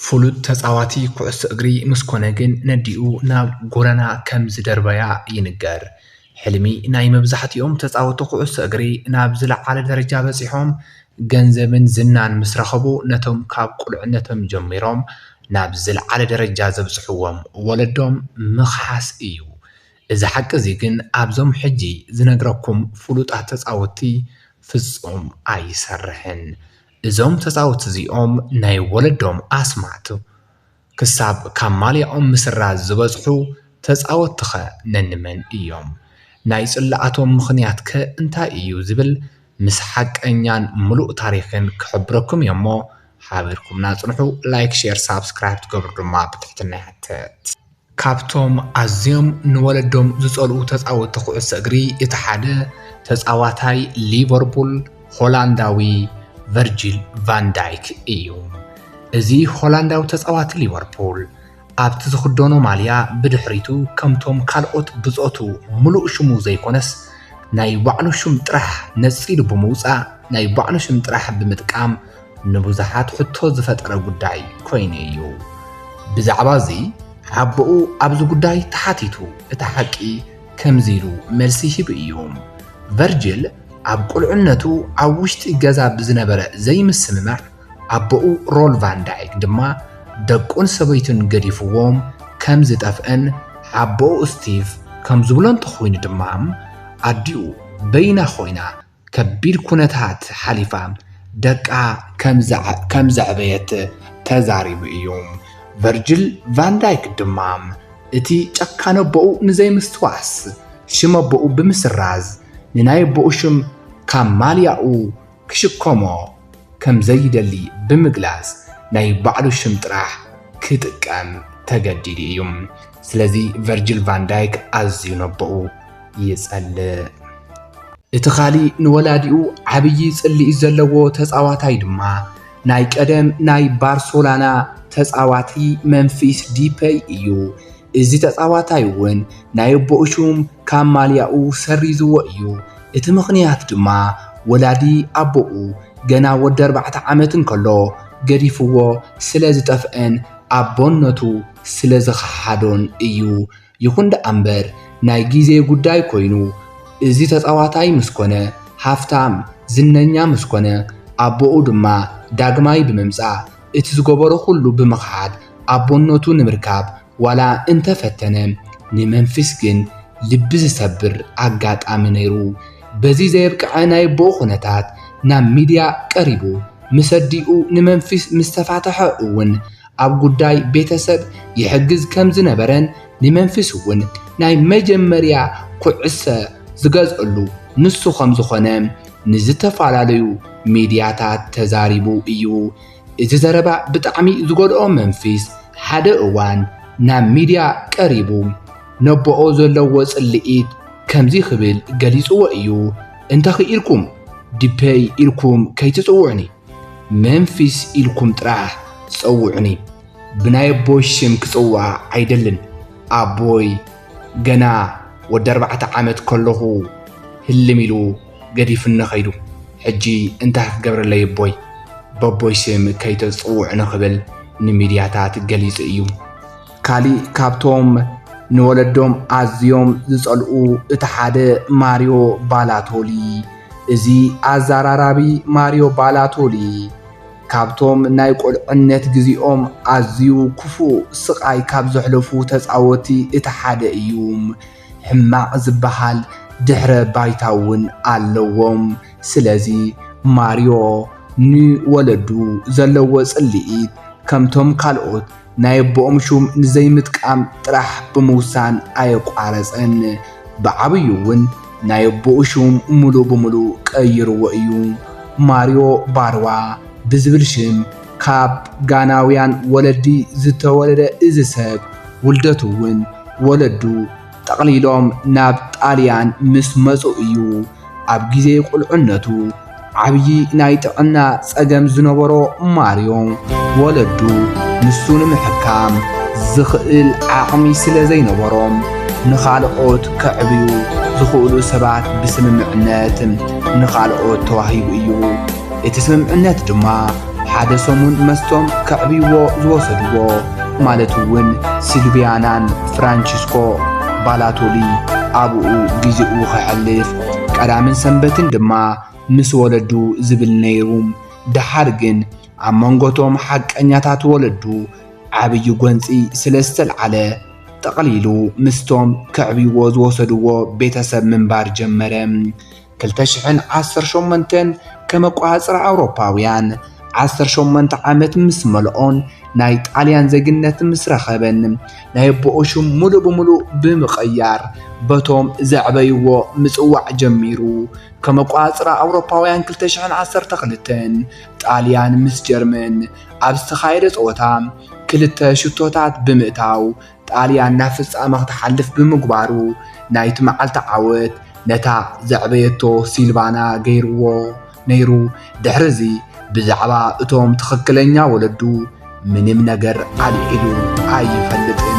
ፍሉጥ ተፃዋቲ ኩዕሶ እግሪ ምስ ኮነ ግን ነዲኡ ናብ ጎደና ከም ዝደርበያ ይንገር። ሕልሚ ናይ መብዛሕቲኦም ተፃወቲ ኩዕሶ እግሪ ናብ ዝለዓለ ደረጃ በፂሖም ገንዘብን ዝናን ምስ ረኸቡ ነቶም ካብ ቁልዕነቶም ጀሚሮም ናብ ዝለዓለ ደረጃ ዘብፅሕዎም ወለዶም ምኽሓስ እዩ። እዚ ሓቂ እዚ ግን ኣብዞም ሕጂ ዝነግረኩም ፍሉጣት ተፃወቲ ፍፁም ኣይሰርሕን። እዞም ተጻውቲ እዚኦም ናይ ወለዶም ኣስማት ክሳብ ካብ ማልያኦም ምስራዝ ዝበጽሑ ተጻወትቲኸ ነንመን እዮም? ናይ ጽልኣቶም ምኽንያትከ እንታይ እዩ ዝብል ምስ ሓቀኛን ምሉእ ታሪኽን ክሕብረኩም እየ'ሞ ሓቢርኩምና ጽንሑ። ላይክ ሼር ሳብስክራይብ ክትገብሩ ድማ ብትሕትና ይሕተት። ካብቶም ኣዝዮም ንወለዶም ዝፀልኡ ተፃወትቲ ኩዕሶ እግሪ እቲ ሓደ ተፃዋታይ ሊቨርፑል ሆላንዳዊ ቨርጂል ቫን ዳይክ እዩ። እዚ ሆላንዳዊ ተፃዋቲ ሊቨርፑል ኣብቲ ዝኽደኖ ማልያ ብድሕሪቱ ከምቶም ካልኦት ብፆቱ ምሉእ ሽሙ ዘይኮነስ ናይ ባዕሉ ሽም ጥራሕ ነፂሉ ብምውፃእ ናይ ባዕሉ ሽም ጥራሕ ብምጥቃም ንብዙሓት ሕቶ ዝፈጠረ ጉዳይ ኮይኑ እዩ። ብዛዕባ እዚ ሓቦኡ ኣብዚ ጉዳይ ተሓቲቱ እቲ ሓቂ ከምዚ ኢሉ መልሲ ሂቡ እዩ፣ ቨርጅል ኣብ ቁልዕነቱ ኣብ ውሽጢ ገዛ ብዝነበረ ዘይምስምማዕ ኣቦኡ ሮል ቫን ዳይክ ድማ ደቁን ሰበይቱን ገዲፍዎም ከም ዝጠፍእን ሓቦኡ ስቲቭ ከም ዝብሎ እንተኾይኑ ድማ ኣዲኡ በይና ኾይና ከቢድ ኩነታት ሓሊፋ ደቃ ከም ዘዕበየት ተዛሪቡ እዩ። ቨርጅል ቫን ዳይክ ድማ እቲ ጨካን ኣቦኡ ንዘይምስትዋስ ሽም ኣቦኡ ብምስራዝ ንናይ ኣቦኡ ሽም ካብ ማልያኡ ክሽከሞ ከም ዘይደሊ ብምግላጽ ናይ ባዕሉ ሽም ጥራሕ ክጥቀም ተገዲዱ እዩ። ስለዚ ቨርጅል ቫን ዳይክ ኣዝዩ ነቦኡ ይጸልእ። እቲ ኻሊእ ንወላዲኡ ዓብዪ ጽልኢት ዘለዎ ተጻዋታይ ድማ ናይ ቀደም ናይ ባርሶላና ተጻዋቲ መንፊስ ዲፐይ እዩ። እዚ ተጻዋታይ እውን ናይ ኣቦኡ ሹም ካብ ማልያኡ ሰሪዝዎ እዩ። እቲ ምኽንያት ድማ ወላዲ ኣቦኡ ገና ወዲ ኣርባዕተ ዓመት እንከሎ ገዲፍዎ ስለ ዝጠፍአን ኣቦነቱ ስለ ዝኸሓዶን እዩ። ይኹን ደኣ'ምበር ናይ ግዜ ጉዳይ ኮይኑ እዚ ተጻዋታይ ምስ ኮነ ሃፍታም ዝነኛ ምስ ኮነ ኣቦኡ ድማ ዳግማይ ብምምጻእ እቲ ዝገበሮ ኩሉ ብምኽሓድ ኣቦነቱ ንምርካብ ዋላ እንተ ፈተነ፣ ንመምፊስ ግን ልቢ ዝሰብር ኣጋጣሚ ነይሩ። በዚ ዘየብቅዐ ናይ ኣቦኡ ኵነታት ናብ ሚድያ ቀሪቡ ምስ ኣዲኡ ንመምፊስ ምስ ተፋትሐ እውን ኣብ ጉዳይ ቤተሰብ ይሕግዝ ከም ዝነበረን ንመምፊስ እውን ናይ መጀመርያ ኵዕሰ ዝገዝኣሉ ንሱ ከም ዝዀነ ንዝተፈላለዩ ሚድያታት ተዛሪቡ እዩ። እዚ ዘረባ ብጣዕሚ ዝጎድኦ መንፊስ ሓደ እዋን ናብ ሚድያ ቀሪቡ ነቦኦ ዘለዎ ፅልኢት ከምዚ ክብል ገሊፅዎ እዩ እንተኽኢልኩም ዲፐይ ኢልኩም ከይትፅውዑኒ መንፊስ ኢልኩም ጥራሕ ፀውዑኒ ብናይ ኣቦይ ሽም ክፅዋዕ ኣይደልን ኣቦይ ገና ወዲ ኣርባዕተ ዓመት ከለኹ ህልም ኢሉ ገዲፍኒ ከይዱ ሕጂ እንታይ ክገብረለይ እቦይ በቦይ ስም ከይተጽውዑኒ ክብል ንሚድያታት ገሊጹ እዩ። ካሊእ ካብቶም ንወለዶም ኣዝዮም ዝጸልኡ እቲ ሓደ ማርዮ ባላቶሊ እዚ ኣዛራራቢ ማርዮ ባላቶሊ ካብቶም ናይ ቁልዕነት ግዚኦም ኣዝዩ ኩፉእ ስቃይ ካብ ዘሕለፉ ተጻወቲ እቲ ሓደ እዩ። ሕማቅ ዝባሃል ድሕረ ባይታ እውን ኣለዎም ስለዚ ማርዮ ን ወለዱ ዘለዎ ጽሊኢት ከምቶም ካልኦት ናይ ኣቦኦም ሹም ንዘይምጥቃም ጥራሕ ብምውሳን ኣየቋረጸን ብዓብዩ እውን ናይ ኣቦኡ ሹም ሙሉእ ብሙሉእ ቀይርዎ እዩ ማርዮ ባርዋ ብዝብል ሽም ካብ ጋናውያን ወለዲ ዝተወለደ እዚ ሰብ፣ ውልደቱ እውን ወለዱ ጠቕሊሎም ናብ ጣልያን ምስ መጹ እዩ። ኣብ ግዜ ቁልዕነቱ ዓብዪ ናይ ጥዕና ጸገም ዝነበሮ ማርዮ፣ ወለዱ ንሱ ንምሕካም ዝኽእል ዓቕሚ ስለ ዘይነበሮም፣ ንኻልኦት ከዕብዩ ዝኽእሉ ሰባት ብስምምዕነት ንኻልኦት ተዋሂቡ እዩ። እቲ ስምምዕነት ድማ ሓደ ሰሙን መስጦም ከዕብይዎ ዝወሰድዎ ማለት እውን ሲልቪያናን ፍራንቺስኮ ባላቶሊ ኣብኡ ግዜኡ ከሕልፍ ቀዳምን ሰንበትን ድማ ምስ ወለዱ ዝብል ነይሩ። ደሓር ግን ኣብ መንጎቶም ሓቀኛታት ወለዱ ዓብዪ ጎንፂ ስለ ዝተልዓለ ጠቕሊሉ ምስቶም ከዕብይዎ ዝወሰድዎ ቤተሰብ ምንባር ጀመረ። ክልተ ሽሕን ዓሰርተ ሸሞንተን ከም ኣቆፃፅራ ኣውሮፓውያን ዓሰርተ ሸሞንተ ዓመት ምስ መልኦን ናይ ጣልያን ዜግነት ምስ ረኸበን ናይ ኣቦኡ ሽም ሙሉእ ብሙሉእ ብምቕያር በቶም ዘዕበይዎ ምፅዋዕ ጀሚሩ። ከም ኣቆፃፅራ ኣውሮፓውያን ክልተ ሽሕን ዓሰርተ ክልተን ጣልያን ምስ ጀርመን ኣብ ዝተኻየደ ፀወታ ክልተ ሽቶታት ብምእታው ጣልያን ናብ ፍጻመ ክትሓልፍ ብምግባሩ ናይቲ መዓልቲ ዓወት ነታ ዘዕበየቶ ሲልቫና ገይርዎ ነይሩ። ድሕርዚ ብዛዕባ እቶም ትኽክለኛ ወለዱ ምንም ነገር ኣልዒሉ ኣይፈልጥን።